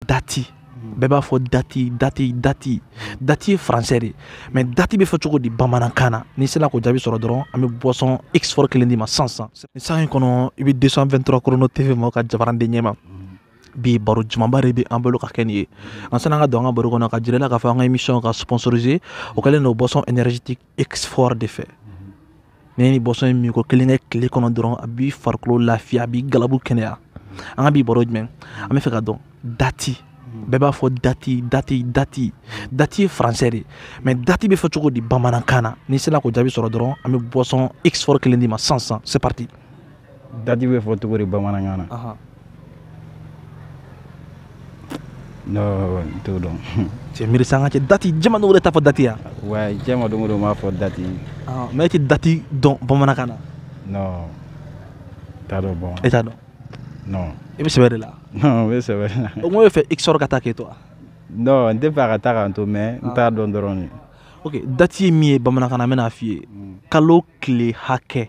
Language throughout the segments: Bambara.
dati bɛɛ b'a fɔ dati dati dati dati ye français de mais dati bɛ fɔ cogo di bamanankan na n'i sera k'o jaabi sɔrɔ dɔrɔn an bɛ boisson x fort kelen d'i ma sisan nin sanga in kɔnɔ i bɛ 223 chrono tv ma o ka jabaranden ɲɛma bi baro jumanba de bɛ an bolo ka kɛ nin ye an sani an ka don an ka baro kɔnɔ ka jira i la k'a fɔ an ka émission ka sponsoriser o kɛlen don boisson énergétique x fort de fɛ n'i ye nin boisson in min ko kelen kɛ tile kɔnɔ dɔrɔn a b'i farikolo lafiya a b'i galabu kɛnɛya an ka bi baro juman an bɛ fɛ ka dɔn dati bɛɛ b'a fɔ dati dati dati dati ye français de mais dati bɛ fɔ cogo di bamanankan na n'i sera k'o jaabi sɔrɔ dɔrɔn an bɛ boisson x fort kelen d'i ma sisan sisan c'est parti dati bɛ fɔ cogo di bamanankan na Ahan. non n t'o dɔn cɛ miiri sa an ka cɛ dati jama dɔw yɛrɛ t'a fɔ dati yan wa diɲɛ ma don o don n b'a fɔ dati Ahan, mais e tɛ dati dɔn bamanankan na non n t'a dɔn bon e t'a dɔn non i bɛ sɛbɛ de la non n bɛ sɛbɛ la o kuma e bɛ fɛ x fort ka taa k'e to wa non n tɛ fɛ a ka taa k'an to mais n t'a dɔn dɔrɔn de ok dati ye min ye bamanankan na n bɛna a f'i ye kalo tile hakɛ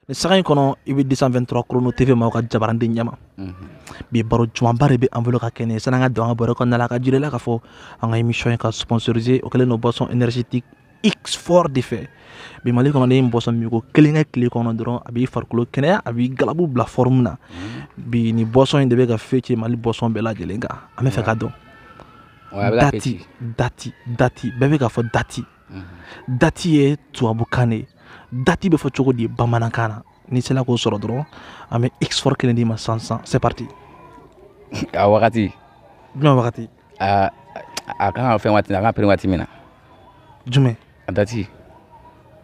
nin sanga in kɔnɔ i bɛ 223 chrono tv ma o ka jabaranden ɲɛma mhm. bi baro jumanba de bɛ an bolo ka kɛ nin ye sani an ka don an ka baro kɔnɔna la ka jira i la k'a fɔ an ka émission in ka sponsoriser o kɛlen don boisson énergétique x fort de fɛ bi mali kɔnɔ n'i ye boisson min ko kelen kɛ tile kɔnɔ dɔrɔn a b'i farikolo kɛnɛya a b'i galabu bila forme na mhm. bi nin boisson in de bɛ ka fêter mali boisson bɛɛ lajɛlen kan an bɛ fɛ ka dɔn dati dati dati bɛɛ bɛ k'a fɔ dati dati ye tubabukan de ye dati bɛ fɔ cogo di bamanankan na n'i sera k'o sɔrɔ dɔrɔn an bɛ x fort kelen d'i ma sisan sisan c'est parti a wagati jumɛn wagati a a kan ka fɛn waati a kan ka pere waati min na jumɛn a dati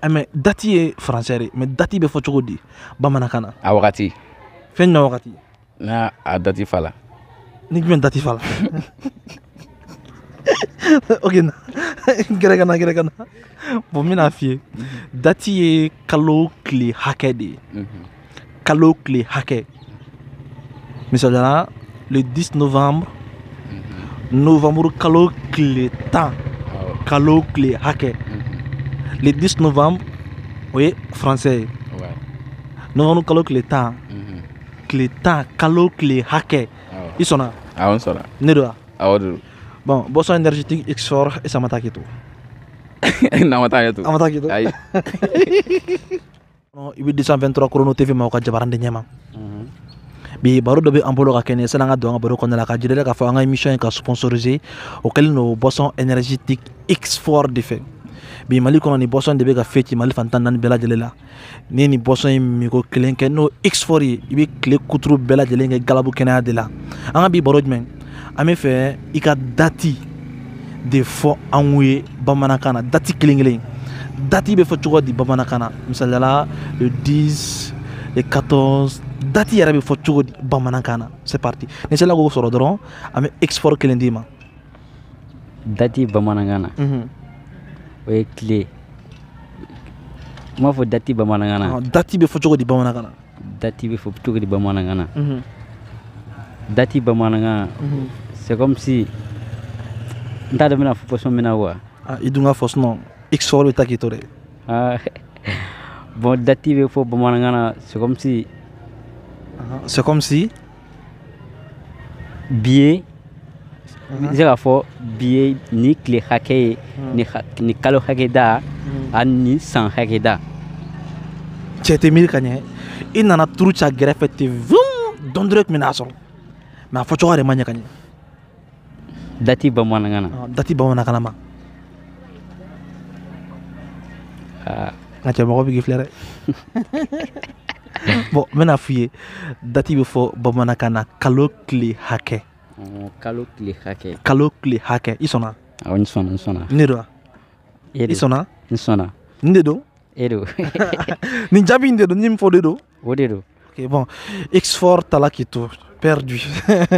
eh, mais dati ye français de mais dati bɛ fɔ cogo di bamanankan na a wagati fɛn jumɛn wagati n'a a dati fa la ni jumɛn dati fa la ok na gɛrɛ ka na gɛrɛ ka na bon n bɛna f'i ye dati ye kalo tile hakɛ de ye mhm. kalo tile hakɛ misaliya la le 10 novembre mhm. novembre kalo tile tan kalo tile hakɛ mhm. le 10 novembre o ye français ye novembre kalo tile tan tile tan kalo tile hakɛ i sɔnna awɔ n sɔnna ne don wa awɔ de don bon boisson énergétique x fort e sama taa k'i to n'a ma taa k'i to a ma taa k'i to ayi i bɛ 223 chrono tv ma o ka jabaranden ɲɛma mhm. bi baro dɔ bɛ an bolo ka kɛ nin ye sani an ka don an ka baro kɔnɔna la ka jira k'a fɔ an ka émission in ka sponsoriser o kɛlen don boisson énergétique x fort de fɛ bi mali kɔnɔ nin boisson de bɛ ka fêter mali fantan naani bɛɛ lajɛlen la n'i nin boisson in minko kelen kɛ n'o x fort ye i bɛ tile kuturu bɛɛ lajɛlen kɛ galabu kɛnɛya de la an ka bi baro jumɛn an bɛ fɛ i ka dati de fɔ an ye bamanankan na dati kelen kelen dati bɛ fɔ cogo di bamanankan na misaliya la le 10 le 14 dati yɛrɛ bɛ fɔ cogo di bamanankan na c'est parti n'i sela k'o sɔrɔ dɔrɔn an bɛ x fort kelen d'i ma dati bamanankan na o ye tile n b'a fɔ dati bamanankan na dati bɛ fɔ cogo di bamanankan na dati bɛ fɔ cogo di bamanankan na dati bamanankan c'est comme si n t'a dɔn n bɛn'a fɔ façon min na wa i dun k'a fɔ sinon x fort bɛ taa k'i to dɛ bon dati bɛ fɔ bamanankan na c'est comme si c'est comme si bi ye n bɛ se k'a fɔ bi ye ni tile hakɛ ye ni kalo hakɛ da ani ni san hakɛ da cɛ tɛ miiri ka ɲɛ i nana turu ca gɛrɛfɛ ten vum dɔɔni dɔrɔn tun bɛn'a sɔrɔ mais a fɔcogo de ma ɲɛ ka ɲɛ dati bamanankan na dati bamanankan ma n ka cɛ mɔgɔ bɛ k'i filɛ dɛ bon n bɛn'a f'i ye dati bɛ fɔ bamanankan na kalo tile hakɛ kalo tile hakɛ kalo tile hakɛ i sɔnna awɔ n sɔnna n sɔnna ne don wa e i sɔnna n sɔnna n de don e don nin jaabi in de don ni min fɔ de don o de don ok bon x fort taala k'i to perdu